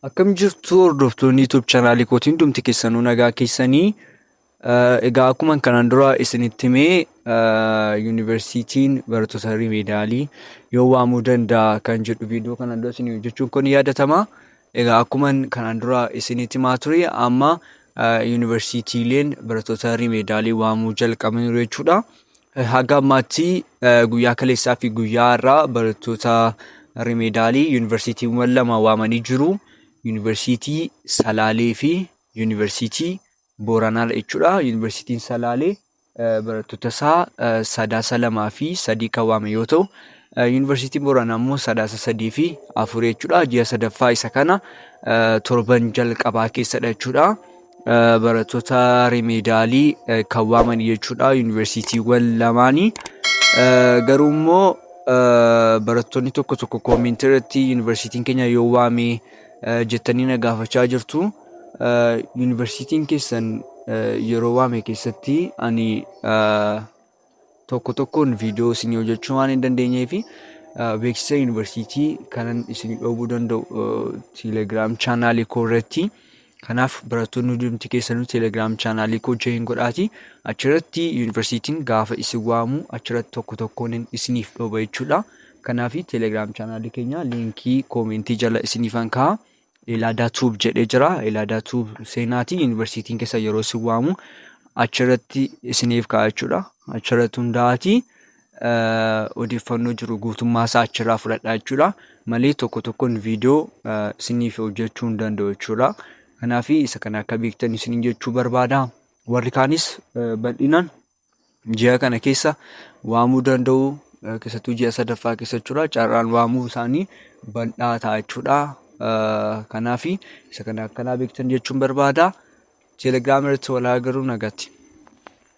Akkam jirtu hordoftoonni YouTube chaanaalii kootiin hundumti keessanuu nagaa keessanii egaa akkuma kanaan dura isinitti himee yuunivarsiitiin barattoota rimeedaalii yoo waamuu danda'a kan jedhu viidiyoo kanaan dura isin hojjechuun kun yaadatama. Egaa akkuma kanaan dura isinitti himaa ture amma yuunivarsiitiileen barattoota rimeedaalii waamuu jalqabaniiru jechuudha. Haga ammaatti guyyaa kaleessaa fi guyyaa har'aa barattoota rimeedaalii yuunivarsiitiiwwan lama waamanii jiru. Yuunivarsiitii Salaalee fi yuunivarsiitii Booranaa jechuudha. Yuunivarsiitiin Salaalee barattoota isaa sadaasa lamaa fi sadii kan waame yoo ta'u, yuunivarsiitiin Booranaa immoo sadaasa sadii fi afur jechuudha. Ji'a sadaffaa isa kana torban jalqabaa keessadha jechuudha. barattoota rimeedaalii kan waaman jechuudha yuunivarsiitiiwwan lamaanii garuu immoo barattoonni tokko tokko koomintii irratti yuunivarsiitiin keenya yoo waame jettanii na gaafachaa jirtu yuunivarsiitiin keessan yeroo waame keessatti ani tokko tokkoon viidiyoo isinii hojjechuu waan hin dandeenyee fi beeksisa yuunivarsiitii kanan isinii dhoobuu danda'u teelegiraam chaanaalii koo irratti kanaaf barattoonni hundumti keessanuu teelegiraam chaanaalii koo join godhaati achirratti yuunivarsiitiin gaafa isin waamu achirratti tokko tokkoon isiniif dhooba jechuudha kanaaf teelegiraam chaanaalii keenya liinkii koomentii jala isiniifan ka'a Elaadaa Tuub jedhee jira. Elaadaa Tuub seenaati. Yuunivarsiitiin keessa yeroo isin waamu achirratti isiniif ka'a jechuudha. Achirratti hundaa'aati odeeffannoo jiru guutummaa isaa achirraa fudhadha jechuudha. Malee tokko tokkoon viidiyoo isiniif hojjechuu hin danda'u jechuudha. Kanaaf isa kana akka beektan isiniin jechuu barbaada. Warri kaanis bal'inaan ji'a kana keessa waamuu danda'u keessattuu ji'a sadaffaa keessa jechuudha carraan waamuu isaanii bal'aa ta'a jechuudha. Kanaaf isa kana akkanaa beektan jechuun barbaada. Telegiraama irratti wal haa garuu nagatti.